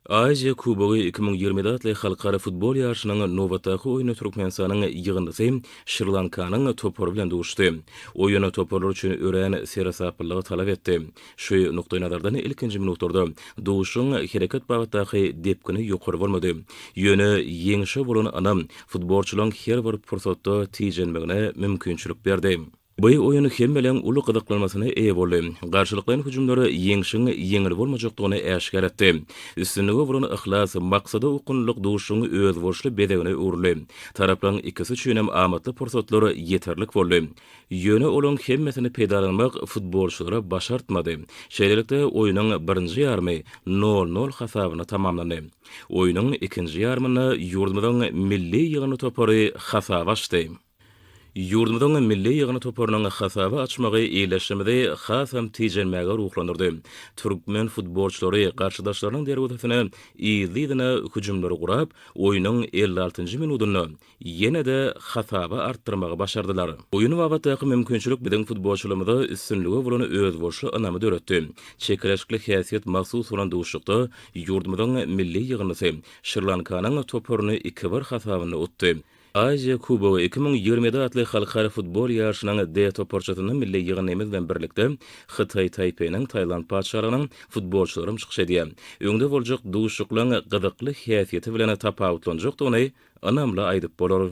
Aziýa kubogy iki müň ýigrimi ýedi atly halkara futbol ýaryşynyň nobatdaky oýnunda Türkmenistanyň ýygyndysy Şri Lankanyň topary bilen duşdy. Oýun toparlar üçin örän seresaplylygy talap etdi. Şu nukdaýnazardan ilkinji minutlarda duşuşygyň hereket babatdaky depgini ýokary bolmady. Ýöne ýeňşe bolan ynam futbolçylaryň her bir pursatda tijenmegine mümkinçilik berdi. Bu oýun hemmeleriň uly gyzyklanmasyna eýe boldy. Garşylyklaýyn hüjümler ýeňşiň ýeňil bolmajakdygyny äşgär etdi. Üstünlige bolan yhlas, maksada okgunlylyk duşuşygyň özboluşly bezegine öwrüldi. Taraplaryň ikisi üçin hem amatly pursatlar ýeterlik boldy. Ýöne olaryň hemmesini peýdalanmak futbolçylara başartmady. Şeýlelikde, oýnuň birinji ýarymy nol-nol hasabyna tamamlandy. Oýnuň ikinji ýarymynda ýurdumyzyň milli ýygyndy topary hasap açdy. Ýurdumyzyň milli ýygyny toparynyň hasaby açmagy ildeşimizi hasam tijenmäge ruhlandyrdy. Türkmen futbolçylary garşydaşlarynyň derwezesinä yzly-yzyna hüjümleri gurap, oýnuň elli altynjy minudynda ýene-de hasaby artdyrmagy başardylar. Oýun babatdaky mümkinçilik biziň futbolçylarymyza üstünlige bolan özboluşly ynamy döretdi. Çekeleşikli häsiýet mahsus bolan duşuşykda ýurdumyzyň milli ýygyndysy Şri-Lankanyň toparyny iki-bir hasabynda utdy. Aziýa kubogy iki müň ýigrimi ýedi atly halkara futbol ýaryşynyň D toparçasynda milli ýygyndymyz bilen birlikde Hytaý Taýpeýiniň Taýland Patyşalygynyň futbolçylary hem çykyş edýär. Öňde boljak duşuşyklaryň gyzykly häsiýeti bilen tapawutlanjakdygyny ynamly aýdyp bolar.